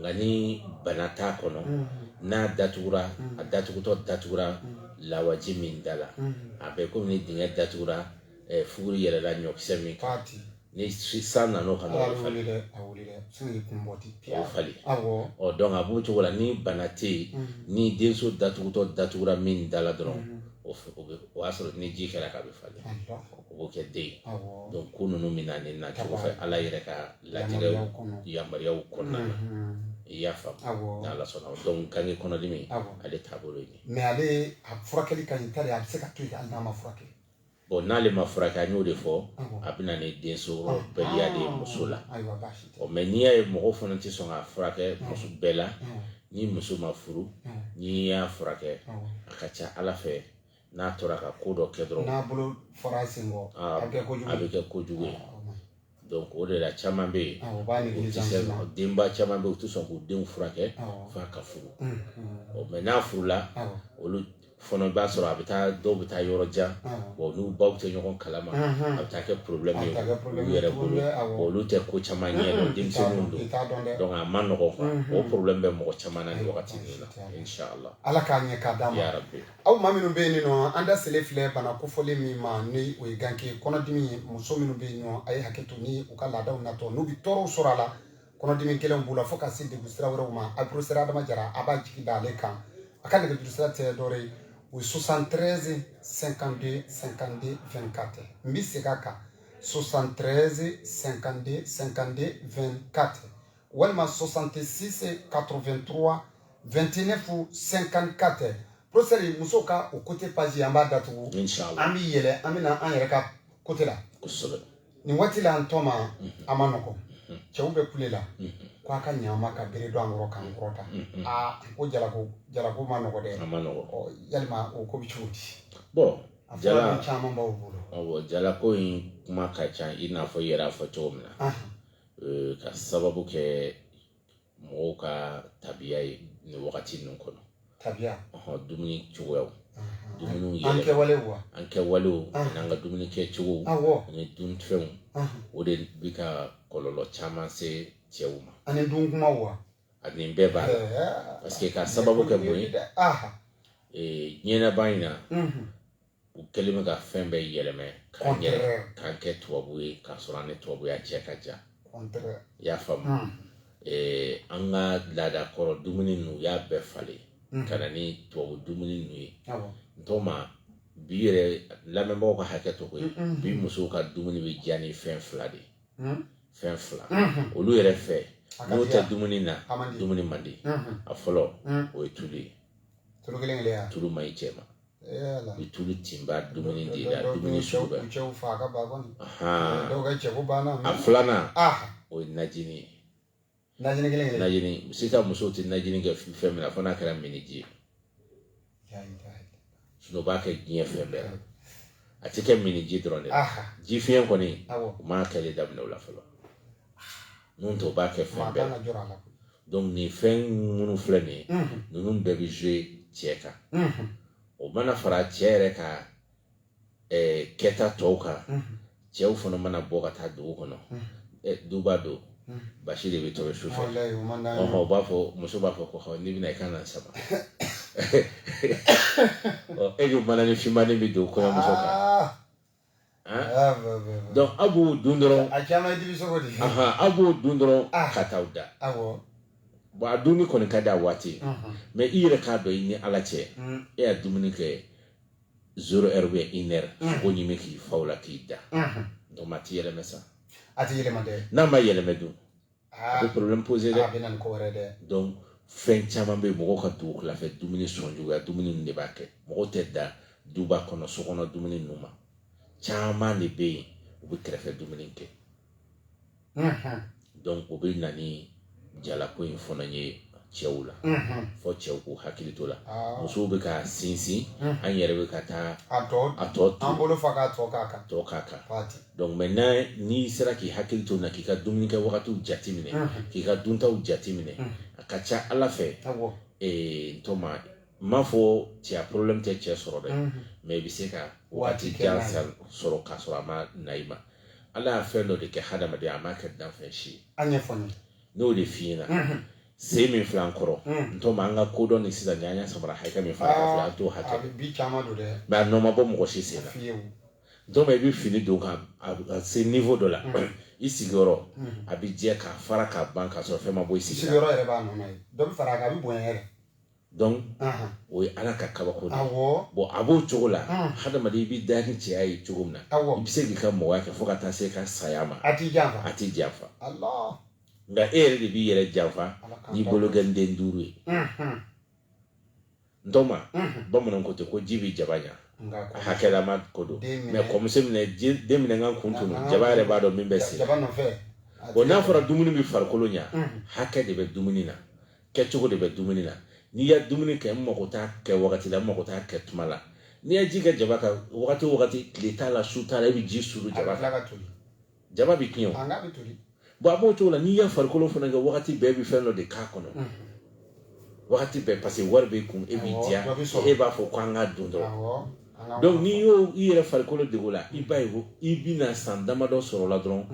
nka ni bana t'a kɔnɔ n'a datugura a datugutɔ datugura lawaji min da la a bɛ kɔmi ni dingɛ datugura fuguri yɛrɛla ɲɔkisɛ min kan ni san nan'o kan o bɛ falen donc a b'o cogo la ni bana tɛ yen ni denso datugutɔ datugura min da la dɔrɔn o o y'a sɔrɔ ni ji kɛra k'a bɛ falen o b'o kɛ den ye donc ko ninnu bɛ na nin nacogo fɛ ala yɛrɛ ka latigɛ yamaruyaw kɔnɔna na i y'a faamu n'ala sɔnna donc gange kɔnɔdimi ale taabolo ye mais ale a furakɛli ka ɲi tari a bɛ se ka to yen hali n'a ma furakɛ bon n'ale ma furakɛ an y'o de fɔ a bɛ na ni densɔrɔbaliya de ye muso la ɔ mais n'i y'a ye mɔgɔw fana tɛ sɔn k'a furakɛ muso bɛɛ la ni muso ma furu n'i y'a furakɛ a ka ca ala fɛ n'a tora ka ko dɔ kɛ dɔrɔn n'a bolo fara a sen kɔ a bɛ kɛ kojugu a bɛ kɛ kojugu ye donc o de la caman bɛ yen o b'a nɛgɛ denba caman bɛ yen u tɛ sɔn k'u denw furakɛ f'a ka furu mais n'a furula olu fana i b'a sɔrɔ a bɛ taa dɔw bɛ taa yɔrɔ jan wa n'u baw tɛ ɲɔgɔn kalama a bɛ taa kɛ problème ye olu yɛrɛ bolo olu tɛ ko caman ɲɛ dɔn denmisɛnninw don donc a ma nɔgɔn quoi o problème bɛ mɔgɔ caman na nin wagati ninnu na inchallah Ala k'a ɲɛ k'a d'an ma yarabi. Aw maa minnu bɛ yen nɔ an da selen filɛ bana kofɔlen min ma ni o ye ganke kɔnɔdimi ye muso minnu bɛ yen nɔ a ye hakɛ to ni u ka laadaw natɔ n'u bɛ tɔɔrɔw sɔrɔ a la kɔnɔdimi gɛlɛnw b'u la fo ka se degun sira wɛrɛw ma a professeur Adama Jara a b'a jigi da ale kan a ka nɛgɛjuru sira tɛ dɔwɛrɛ ye o ye 73 52 52 24 n bɛ segin a kan 73 52 52 24 walima 66 83 29 54 professeur musow ka o côté page an b'a datugu an bɛ yɛlɛ an bɛna an yɛrɛ ka côté la nin waati la an tɔma a ma nɔgɔn cɛw bɛ kule la ko a ka ɲɛ an ma ka bere don an kɔrɔ k'an kɔrɔta aa ko jalako jalako ma nɔgɔ dɛ yalima o ko bɛ cogo di a fura caman b'aw bolo jalako in kuma ka ca i n'a fɔ i yɛrɛ y'a fɔ cogo min na ka sababu kɛ mɔgɔw ka tabiya ye nin wagati ninnu kɔnɔ tabiya dumuni cogoyaw dumuniw yɛlɛ an kɛwale wa an kɛwalew n'an ka dumuni kɛcogo ani dunfɛnw o de bi ka kɔlɔlɔ caman se cɛw ma ani dunkumaw ani bɛɛ b'a la parce que ka sababu kɛ mun ye diɲɛlabaa in na u kɛlen bɛ ka fɛn bɛɛ yɛlɛmɛ k'a yɛlɛ k'an kɛ tubabu ye k'a sɔrɔ an ni tubabuya cɛ ka jan i y'a faamu hmm. eh, an ka laada kɔrɔ dumuni ninnu u y'a bɛɛ falen hmm. ka na ni tubabu dumuni ninnu ye ntɔma bi yɛrɛ lamɛnbaaw ka hakɛ to koyi hmm, bi musow ka dumuni bɛ diya ni fɛn fila de ye fɛn fila olu yɛrɛ fɛ n'o tɛ dumuni na dumuni man di a fɔlɔ o ye tulu ye tulu man ɲi cɛ ma ni tulu tinba dumuni de la dumuni sugu bɛɛ a filanan o ye najini ye najini kelen kelen najini sisan musow tɛ najini kɛ fɛn min na fo n'a kɛra miniji ye o b'a kɛ diɲɛ fɛn bɛɛ la a tɛ kɛ miniji dɔrɔn de la jifiɲɛ kɔni u m'a kɛli daminɛ o la fɔlɔ N'o tɛ o b'a kɛ fɛn bɛɛ la nin fɛn minnu filɛ nin ye ninnu bɛɛ bɛ jouer cɛ kan o mana fara cɛ yɛrɛ ka kɛta tɔw kan cɛw fana mana bɔ ka taa dugu kɔnɔ duba don basi de bɛ tobi su fɛ o b'a fɔ muso b'a fɔ ko n'i bɛna i ka na sama e' mananin fin bɛ don kɔɲɔmuso kan Ah, donc aw b'o dun dɔrɔn aw b'o dun dɔrɔn ah. ka t'aw da bon a dumuni kɔni ka di a waati mais i yɛrɛ k'a dɔn i ni ala cɛ mm. e y'a dumuni kɛ zéro heure ou bien une heure mm. sogo ɲimi k'i fa o la k'i da donc a tɛ yɛlɛmɛ sa n'a ma yɛlɛmɛ dun a bɛ problème poser dɛ a bɛ na ni ko wɛrɛ dɛ donc fɛn caman bɛ yen mɔgɔ ka dugutilafɛ dumuni sɔnjuguya dumuni ninnu de b'a kɛ mɔgɔ tɛ da duba kɔnɔ so kɔnɔ dumuni ninnu ma caman de bɛ yen u bɛ kɛrɛfɛ dumuni kɛ donc o bɛ na ni jalako in fana ye cɛw la fɔ cɛw k'u hakili to la musow bɛ ka sinsin an yɛrɛ bɛ ka taa a tɔ a tɔ an bolo fa k'a tɔ k'a kan tɔ k'a kan donc maintenant n'i sera k'i hakili to na k'i ka dumuni kɛ wagatiw jate minɛ k'i ka duntaw jate minɛ a ka ca ala fɛ ee ntɔma n m'a fɔ cɛya problème tɛ cɛ sɔrɔ dɛ mais i bɛ se ka waati jan sɔrɔ k'a sɔrɔ a ma na i ma ala y'a fɛn dɔ de kɛ hadamaden a m'a kɛ danfɛn si ye n'o de f'i ɲɛna sen min filɛ an kɔrɔ ntɔma an ka kodɔn ni sisan an y'a samara hakɛ min fara an fɛ an t'o hakɛ mais a nɔ ma bɔ mɔgɔ si sen na ntɔma i bɛ fini don ka a se niveau dɔ la i sigiyɔrɔ a bɛ jɛ k'a fara k'a ban k'a sɔrɔ fɛn ma bɔ i sigiyɔrɔ yɛrɛ b'a nɔ ye dɔ bɛ fara a kan a bɛ bonya yɛrɛ donc o ye ala ka kabako de ye bon a b'o cogo la hadamaden i bɛ da ni cɛya ye cogo min na i bɛ se k'i ka mɔgɔya kɛ fo ka taa se ka saya ma a t'i janfa nka e yɛrɛ de b'i yɛrɛ janfa n'i bolokɔnden duuru ye ntɔma bamananw ko ten ko ji bɛ jaba ɲa a hakɛlama ko don mais kɔmuso minɛ den minɛ ka n kun tunu jaba yɛrɛ b'a dɔn min bɛ se bon n'a fɔra dumuni bɛ farikolo ɲa hakɛ de bɛ dumuni na kɛcogo de bɛ dumuni na n'i ya dumuni kɛ n mago t'a kɛ wagati la n mago t'a kɛ tuma la n'i ye ji kɛ jaba kan wagati o wagati tile t'a la su t'a la i bɛ ji suuru jaba kan jaba bɛ tiɲɛ o bon a b'o cogo la n'i ye farikolo fana kɛ wagati bɛɛ bɛ fɛn dɔ de k'a kɔnɔ wagati bɛɛ parce que wari b'e kun e b'i diya e b'a fɔ ko an ka dun dɔrɔn donc n'i y'o i yɛrɛ farikolo dege o la i b'a ye ko i bɛna san damadɔ sɔrɔ la dɔrɔn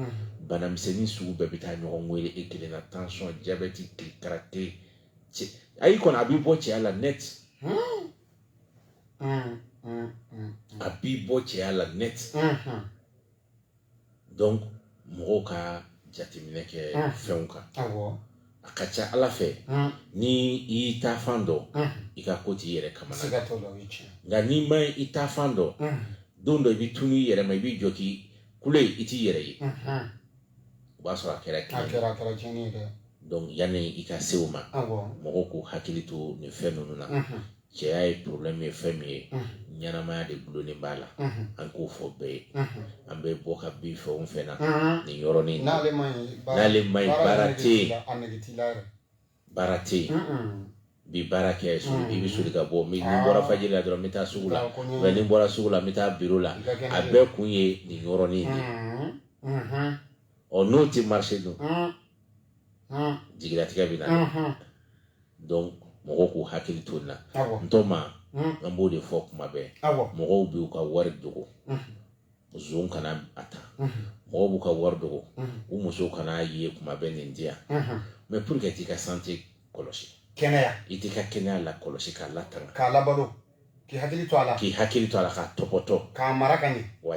banamisɛnnin sugu bɛɛ bɛ taa ɲɔgɔn wele e kelen na tansiyɔn jabɛti karate cɛ ayi kɔni a b'i bɔ cɛya la net a b'i bɔ cɛya la net donc mɔgɔw ka jateminɛ kɛ fɛnw kan a ka ca ala fɛ ni i y'i ta fan dɔn i ka ko t'i yɛrɛ kamana nka n'i ma i ta fan dɔn don dɔ i bɛ tunu i yɛrɛ ma i b'i jɔ k'i kule i t'i yɛrɛ ye o b'a sɔrɔ a kɛra donc yanni i ka se o ma mɔgɔw k'u hakili to nin fɛn ninnu na cɛya ye problème ye fɛn min ye ɲɛnamaya de gulonnen b'a la an k'o fɔ bɛɛ ye an bɛ bɔ ka bin fɛn o fɛn na nin yɔrɔnin n'ale man ɲi baara tɛ yen baara tɛ yen bi baara kɛ i bɛ soli ka bɔ ni bɔra fajiri la dɔrɔn n bɛ taa sugu la mais ni bɔra sugu la n bɛ taa biro la a bɛɛ kun ye nin yɔrɔnin de ye ɔ n'o tɛ marché dun jigilatigɛ bɛ na donc mɔgɔw k'u hakili to nin na ntɔma an b'o de fɔ kuma bɛɛ mɔgɔw b'u ka wari dogo zon kana a ta mɔgɔw b'u ka wari dogo u musow kana a ye kuma bɛɛ nin di yan mais pourquoi i t'i ka santé kɔlɔsi kɛnɛya i t'i ka kɛnɛya lakɔlɔsi k'a latanga k'i hakili to a la k'i hakili to a la k'a topoto k'a mara ka ɲɛ wa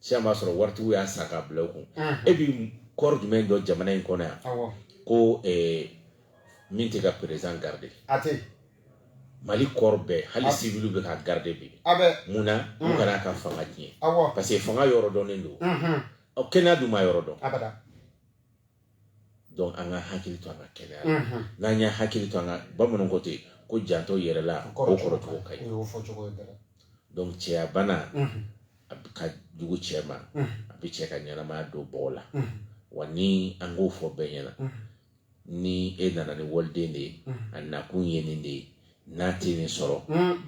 sisan b'a sɔrɔ waritigiw y'a san k'a bila u kun e bɛ corps jumɛn dɔn jamana in kɔnɔ yan ko eh, min tɛ ka président garde mali corps bɛɛ hali siviliw bɛ ka garde bi mun na u mm. kana ka fanga tiɲɛ parce que fanga yɔrɔ dɔnnen don kɛnɛya dun ma yɔrɔ dɔn donc an ka hakili to an ka kɛnɛya la n'an ye hakili to an ka bamananw ko ten ko janto yɛrɛ la ko kɔrɔcogo ka ɲi donc cɛya bana a ka jugu cɛ ma a bɛ cɛ ka ɲɛnamaya don bɔgɔ la wa ni an k'o fɔ bɛɛ ɲɛna ni e nana ni waliden de ye a nakun ye nin de ye n'a tɛ nin sɔrɔ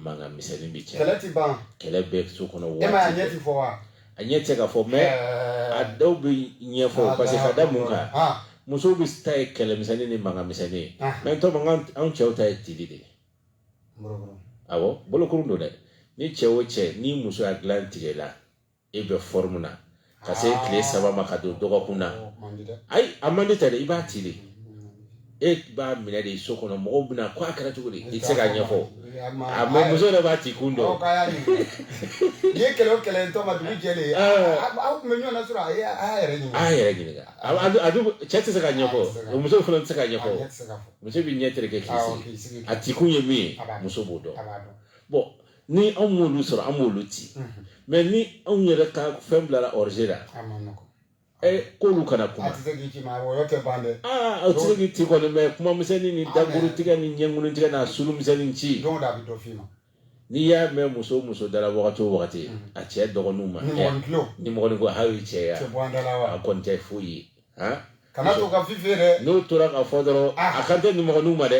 mankan misɛnnin bɛ cɛ kɛlɛ tɛ ban kɛlɛ bɛ so kɔnɔ waati e ma a ɲɛ tɛ fɔ wa a ɲɛ tɛ ka fɔ mais a dɔw bɛ ɲɛfɔ parce que ka da mun kan musow bɛɛ ta ye kɛlɛ misɛnnin ni mankan misɛnnin ye maintenant anw cɛw ta ye tili de ye awɔ bolokurun don dɛ ni cɛ o cɛ ni muso y'a dilan tigɛ la e bɛ forme na ka se tile saba ma ka don dɔgɔkun na ayi a man di tɛ dɛ i b'a ci de e b'a minɛ de so kɔnɔ mɔgɔw bɛna ko a kɛra cogo di i tɛ se ka ɲɛfɔ a mais muso yɛrɛ b'a ci kun dɔn n'i ye kɛlɛ o kɛlɛ sɔgɔma dugu jɛ aw tun bɛ ɲɔgɔn na sɔrɔ a yɛrɛ a yɛrɛ ɲininka cɛ tɛ se ka ɲɛfɔ muso fana tɛ se ka ɲɛfɔ muso bɛ ɲɛ tɛrɛkɛ k'i sigi a ci kun ye min ye muso b'o dɔn bon ni anw m'olu sɔrɔ an b'olu ci mais ni anw yɛrɛ ka fɛn bilara rouge la ɛ k'olu kana kuma a tɛ se k'i ci kɔni mais kuma misɛnnin ni dakuru tigɛ ni ɲɛkun tigɛ n'a suru misɛnnin ci n'i y'a mɛn muso muso dara wagati o wagati a cɛ dɔgɔninw ma nimɔgɔnin ko hali cɛ ya a kɔni tɛ foyi ye kana to ka fifi dɛ n'o tora ka fɔ dɔrɔn a kan tɛ nimɔgɔninw ma dɛ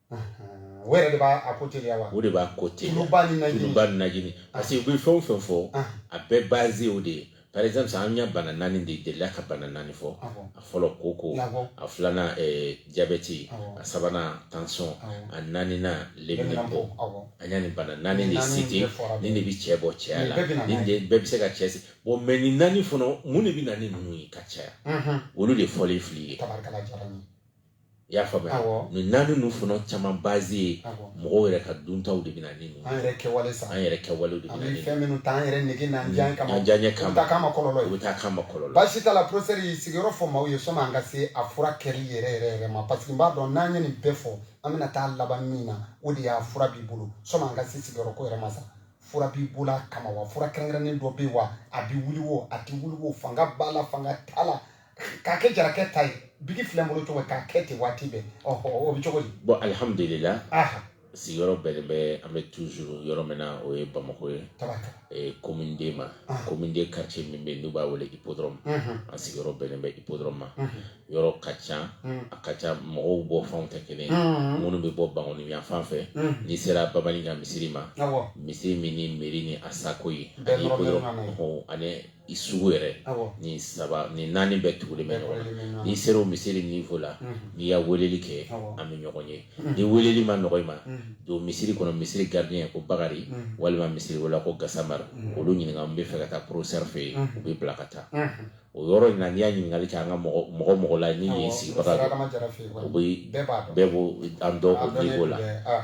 de b'a ko teliya wa o de b'a ko teliya tuluba ni naji parce que u bɛ fɛn o fɛn fɔ a bɛɛ base o de ye par exemple an y'a bana naani de delila ka bana naani fɔ a fɔlɔ koko a filanan diabète a sabanan tension a naaninan leminɛnpo an y'a nin bana naani de citer nin de bɛ cɛ bɔ cɛya la nin bɛɛ bɛ se ka cɛ se bon mais nin naani fana mun de bɛ na ni ninnu ye ka caya olu de fɔlen filɛ i ye i y'a faamuya awɔ nin naani ninnu fana caman base ye awɔ mɔgɔw yɛrɛ ka duntaw de bɛ na ni ninnu an yɛrɛ kɛwale sa an yɛrɛ kɛwalew de an bɛna bɛ ni fɛn minnu ta an yɛrɛ nege n'an diya kama an diyaɲɛ u kama ta k'an ma kɔlɔlɔ u ye bɛ taa k'an ma kɔlɔlɔ baasi t'a la professeur i sigiyɔrɔ fɔ maaw ye sanni an ka se a furakɛli yɛrɛ yɛrɛ yɛrɛ ma parce que n b'a dɔn n'an ye nin bɛɛ fɔ an bɛna taa laban min na o de y'a fura b'i bolo sanni an ka se sigiyɔrɔ ko yɛrɛ ma sa fura b'i bolo a kama wa fura kɛrɛnkɛrɛnnen dɔ bɛ yen wa a bɛ wuli wo a tɛ wuli wo fanga b'a la fanga t'a la k'a kɛ jarakɛ ta ye biki filɛ n bolo cogo k'a kɛ ten waati bɛɛ ɔhɔ o bɛ cogo di bon alihamudulila sigiyɔrɔ bɛnnen bɛ an bɛ toujours yɔrɔ min na o ye bamakɔ ye commune deux ma commune deux quartier min bɛ yen n'u b'a wele Hippodrome an sigiyɔrɔ bɛnnen bɛ Hippodrome ma yɔrɔ ka ca a ka ca mɔgɔw bɔ fanw tɛ kelen ye minnu bɛ bɔ Bankoni yan fan fɛ n'i sera Babanin ka misiri ma misiri min ni mairie ni ASACO ye ani ko ani i sugu yɛrɛ ni saba ni naani bɛɛ tugulen bɛ ɲɔgɔn na n'i sera o misiri niveau la n'i y'a weleli kɛ an bɛ ɲɔgɔn ye ni weleli ma nɔgɔ i ma don misiri kɔnɔ misiri gardien ko bakarijan walima misiri wala ko gasama olu ɲininka n b'a fɛ ka taa professeur fɛ yen u b'i bila ka taa o yɔrɔ in na n'i y'a ɲininkali kɛ an ka mɔgɔ mɔgɔ la ni ye sigibaga o bɛ bɛɛ b'a dɔn bɛɛ b'an dɔn o niveau la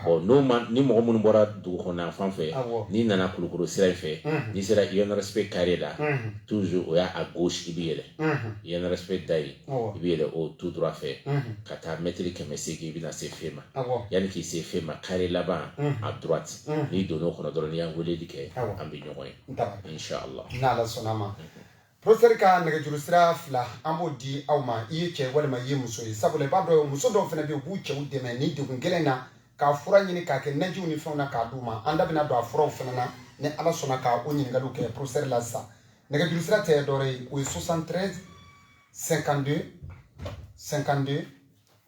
bon n'o ma ni mɔgɔ minnu bɔra dugu kɔnɔna fan fɛ n'i nana kulukoro sira in fɛ n'i sera INRSP carré la toujours o y'a à gauche i bɛ yɛlɛ INRSP da yen i bɛ yɛlɛ o tout droit fɛ ka taa mɛtiri kɛmɛ seegin i bɛna se FEMA yanni k'i se FEMA carré laban à droite n'i donna o kɔnɔ dɔrɔn n'i y'an weleli kɛ an bɛ ɲɔgɔn ye in sha Allah n'Ala sɔnn'a ma. Professeur ka nɛgɛjuru sira fila an b'o di aw ma i ye cɛ walima i ye muso ye sabula i b'a dɔn muso dɔw fana bɛ yen u b'u cɛw dɛmɛ nin degun gɛlɛn na k'a fura ɲini k'a kɛ najiw ni fɛnw na k'a d'u ma an da bɛna don a furaw fana na ni ala sɔnna ka o ɲininkaliw kɛ professeur la sisan nɛgɛjuru sira tɛ dɔwɛrɛ ye o ye 73 52 52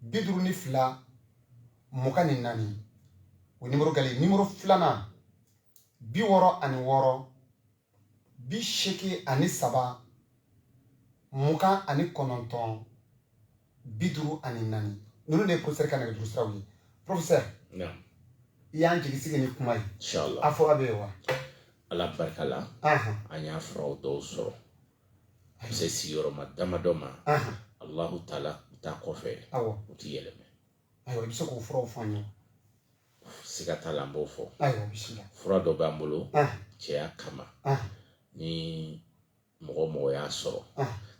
bi duuru ni fila mugan ni naani o nimoro galen nimoro filanan bi wɔɔrɔ ani wɔɔrɔ bi seegin ani saba mugan ani kɔnɔntɔn bi duuru ani naani ninnu de ye professeur ka nɛgɛjuru siraw ye professeur i y'an jigi sigi ni kuma ye a fura bɛ yen wa ala barika la an y'a furaw dɔw sɔrɔ a bɛ se sigiyɔrɔma damadɔ ma alahu taala ta kɔfɛ u ti yɛlɛma ayiwa i bɛ se k'o furaw fɔ an ye siga t'a la an b'o fɔ fura dɔ b'an bolo cɛya kama ni mɔgɔ mɔgɔ y'a sɔrɔ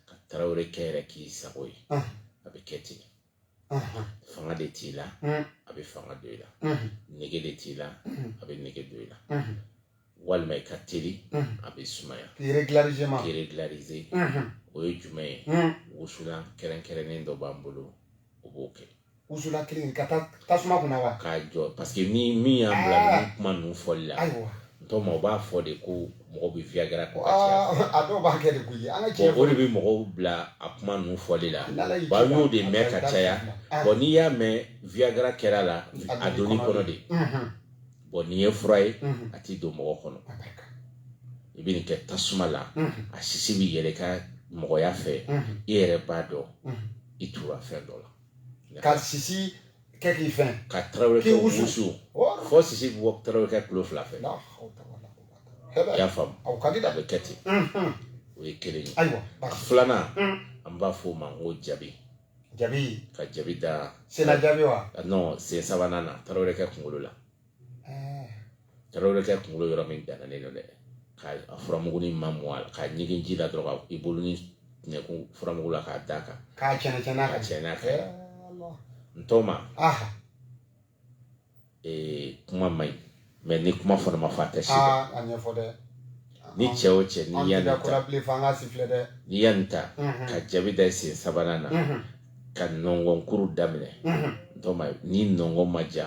ka tarawele kɛ yɛrɛ k'i sago ye a bɛ kɛ ten fanga de t'i la a bɛ fanga don i la nege de t'i la a bɛ nege don i la walima i ka teli a bɛ sumaya k'i régulariser o ye jumɛn ye wusulan kɛrɛnkɛrɛnnen dɔ b'an bolo o b'o kɛ wusulan kelen ka tasuma kunna wa k'a jɔ parce que ni min y'an bila kuma ninnu fɔli la tɔw o b'a fɔ de ko mɔgɔ bɛ viagra ko a dɔw b'a kɛ de koyi an ka o de bɛ mɔgɔw bila a kuma ninnu fɔli la ba y'o de mɛn ka caya bon n'i y'a mɛn viagra kɛra la a donn'i kɔnɔ de bon nin ye fura ye a tɛ don mɔgɔ kɔnɔ i bɛ nin kɛ tasuma la a sisi bɛ yɛlɛ i ka mɔgɔya fɛ i yɛrɛ b'a dɔn i tura fɛn dɔ la ka sisi kɛ k'i fɛn ka tarawele kɛ wusu fo sisi bɛ bɔ tarawele kɛ kulo fila fɛ i y'a faamu a bɛ kɛ ten o ye kelen ye a filanan an b'a fɔ o ma ko jabi jabi ka jabi da sen na jabi wa non sen sabanan na tarawele kɛ kunkolo la Tarawele bɛ kɛ kunkolo yɔrɔ min dannen don dɛ ka a furamugunin ma mɔ a la k'a ɲigin ji la dɔrɔn ka i bolo ni ɲɛkun furamugu la k'a d'a kan k'a cɛnɛ cɛnɛ ka cɛnɛ a fɛ n tɔma ee kuma man ɲi mɛ ni kuma fana ma fɔ a tɛ si a ɲɛfɔ dɛ ni cɛ o cɛ n'i y'a nin ta n'i y'a nin ta ka jabi da sen sabanan na ka nɔngɔnkuru daminɛ n tɔma ni nɔngɔn ma ja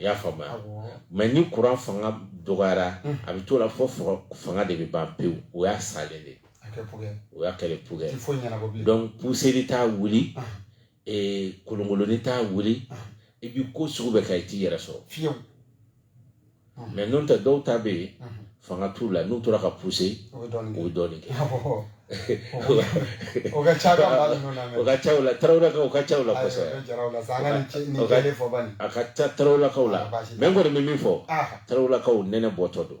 i y'a faamuya mɛ ni kuran fanga dɔgɔyara a bɛ t'o la fo fanga de bɛ ban pewu o y'a salen de o y'a kɛlɛ pugɛ donc puseli t'a wuli kolonkolonni t'a wuli i bɛ ko sugu bɛɛ kɛ i t'i yɛrɛ sɔrɔ mɛ n'o tɛ dɔw ta bɛ yen fanga t'u la n'u tora ka puse o bɛ dɔɔnin kɛ o ka ca o ka ca u la tarawelelakaw o ka ca u la kosɛbɛ a ka ca tarawelelakaw la mɛ n kɔni bɛ min fɔ tarawelelakaw nɛnɛ bɔtɔ don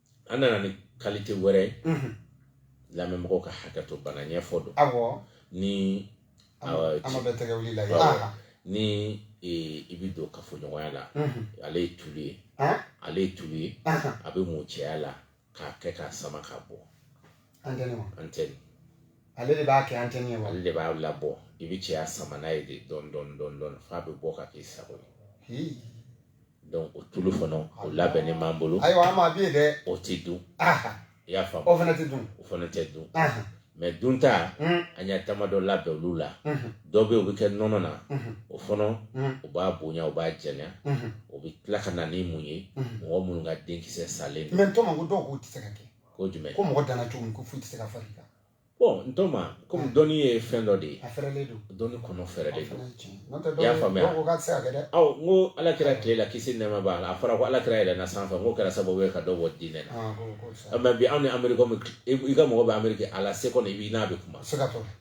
an nana ni kalite wɛrɛ ye lamɛnmɔgɔw ka hakɛ to bana ɲɛfɔ don ni ni i bɛ don kafoɲɔgɔnya la ale ye tulu ye ale ye tulu ye a bɛ mun cɛya la k'a kɛ k'a sama ka bɔ antenne ale de b'a kɛ antenne ale de b'a labɔ i bɛ cɛya sama n'a ye de dɔɔnin dɔɔnin dɔɔnin dɔɔnin f'a bɛ bɔ ka k'i sago ye donc o tulu fana o labɛnnen b'an bolo ayiwa an ma bi dɛ o ti dun i y'a faamu o fana ti dun o fana tɛ dun mɛ dunta an y'a damadɔ labɛn olu la dɔ bɛ o bɛ kɛ nɔnɔ na o fana o b'a bonya o b'a janya o bɛ tila ka na ni mun ye mɔgɔ minnu ka denkisɛ salen don mɛ n tɔma ko dɔw k'o tɛ se ka kɛ ko jumɛn ko mɔgɔ danna cogo min ko foyi tɛ se ka far'i kan Bon n tɔma kɔmi ah. dɔnni ye fɛn dɔ de ye a fɛrɛlen don dɔnni kɔnɔ fɛrɛlen don i y'a faamuya aw n ko ala kira tile la kisi nɛɛma b'a la a fɔra ko ala kira yɛlɛna sanfɛ n k'o kɛra sababu ye ka dɔ bɔ diinɛ la ah, ah, mɛ bi anw ni ameriki i ka mɔgɔ bɛ ameriki à la seconde i b'i n'a bɛ kuma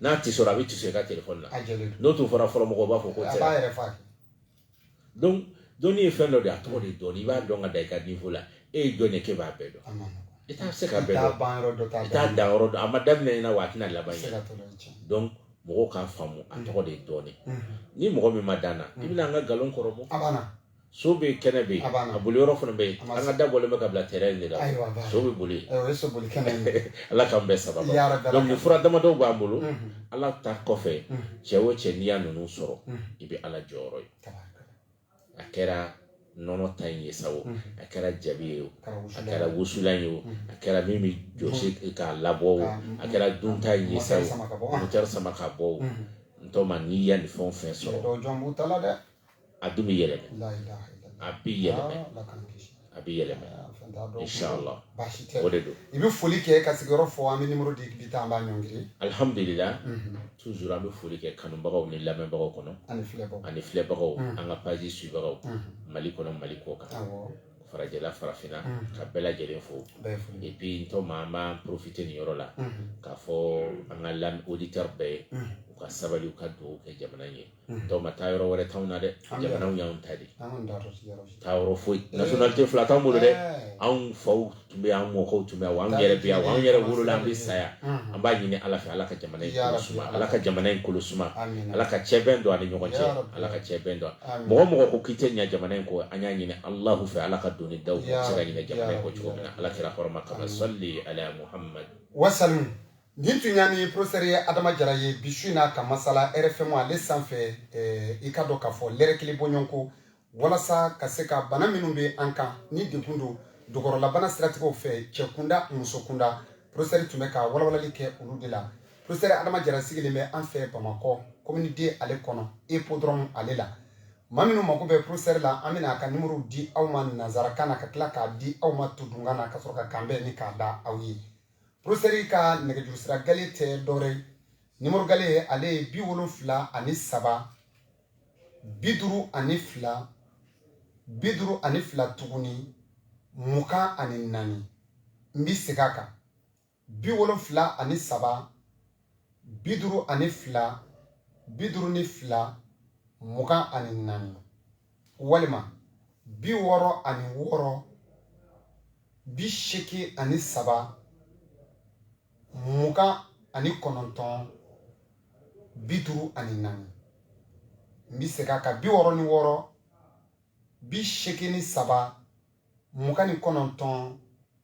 n'a t'i sɔrɔ a bɛ t'i sɔrɔ i ka telefɔni la n'o tun fɔra fɔlɔ mɔgɔw b'a fɔ k'o tɛ donc dɔnni ye fɛn dɔ de ye a tɔgɔ de dɔnni i b'a dɔn ka da i ka niveau la e ye jɔn ye k'e b'a bɛɛ dɔn i tɛ se k'a bɛɛ dɔn i t'a dan yɔrɔ dɔn a ma daminɛ i ɲɛna wa a tɛna laban i ɲɛna donc mɔgɔw k'a faamu a tɔgɔ de ye dɔɔnin ni mɔgɔ min ma d'an na i bɛna an ka nkalon kɔrɔbɔ so bɛ kɛnɛ bɛ yen a boli yɔrɔ fana bɛ yen an ka da bɔlen bɛ ka bila terrain de la so bɛ boli ala k'an bɛɛ sababu donc nin fura damadɔw b'an bolo ala ta kɔfɛ cɛ o cɛ n'i y'a ninnu sɔrɔ i bɛ ala jɔyɔrɔ ye a kɛra nɔnɔ ta in ye sa o a kɛra jabi ye o a kɛra wusulan ye o a kɛra min bɛ jɔsi k'a labɔ o a kɛra dunta in ye sa o motɛri sama ka bɔ o n tɔma n'i ya nin fɛn o fɛn sɔrɔ a dun bɛ yɛlɛma a bɛ yɛlɛma a bɛ yɛlɛma inshallah o de don i bɛ foli kɛ ka sigiyɔrɔ fɔ an bɛ nimoro di bi ta an b'a ɲɔngiri ye alhamdulillah mhm. toujours an bɛ foli kɛ kanubagaw ni lamɛnbagaw kɔnɔ ani filɛbagaw ani filɛbagaw mhm. an ka page suivagaw mhm. mali kɔnɔ mali kɔ kan farajɛla farafinna ka bɛɛ lajɛlen fo et puis n tɔma an b'an profiter nin yɔrɔ la k'a fɔ an ka lam auditeur bɛɛ ye u ka sabali u ka dugawu kɛ jamana ye n tɔma taayɔrɔ wɛrɛ t'anw na dɛ jamana y'anw ta de taayɔrɔ foyi nationalité fila t'anw bolo dɛ anw faw tun bɛ yan anw mɔkɛw tun bɛ yan wa anw yɛrɛ bɛ yan wa anw yɛrɛ wolola an bɛ sa yan an b'a ɲini ala fɛ ala ka jamana in kolo suma ala ka jamana in kolo suma ala ka cɛbɛn don an ni ɲɔgɔn cɛ ala ka cɛbɛn don mɔgɔ o mɔgɔ ko k'i tɛ ɲinɛ jamana in kɔ an y'a ɲini alahu fɛ ala ka doni da u se ka ɲinɛ jamana in kɔ cogo min na ala kira hɔrɔma kama sɔli ala muhamadu wasalim nin tun y'an ni professeur ye adama jara ye bi su in na ka masala rfm ale sanfɛ eh, i k'a dɔn k'a fɔ lɛrɛ kelen bɔɲɔgɔnko walasa ka se ka bana minnu bɛ an kan ni degun don dogɔrɔlabana siratigɛw fɛ cɛ kunda muso kunda professeur tun bɛ ka walawalali kɛ olu de la professeur adama jara sigilen bɛ an fɛ bamakɔ commune deux ale kɔnɔ epodrɔmu ale la maa minnu mako bɛ professeur la an bɛna a ka nimoro di aw ma nanzarakan na ka tila k'a di aw ma todunkan na ka sɔrɔ ka kanbɛn ni k'a da aw ye porosɛri ka nɛgɛjuru sira gale tɛ dɔwɛrɛ ye nimoro gale ale ye bi wolonfila ani saba bi duuru ani fila bi duuru ani fila tuguni mugan ani naani n bi segin a kan bi wolonfila ani saba bi duuru ani fila bi duuru ni fila mugan ani naani walima bi wɔɔrɔ ani wɔɔrɔ bi seegin ani saba mugan ani kɔnɔntɔn bi duuru ani naani n bɛ segin a kan bi wɔɔrɔ ni wɔɔrɔ bi seegin ni saba mugan ni kɔnɔntɔn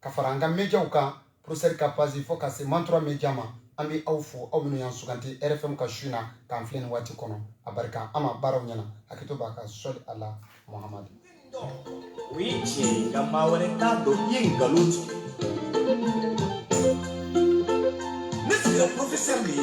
ka fara an ka médiaw kan professeur ka page fo ka se mantura média ma an bɛ aw fo aw minnu y'an suganti rfm ka su na k'an filɛ nin waati kɔnɔ a barika an ma baaraw ɲɛna hakɛto b'a kan sɔli ala muhamadu o ye tiɲɛ ye nka maa wɛrɛ t'a dɔn i ye nkalon tigɛ ne sigira professeur de ye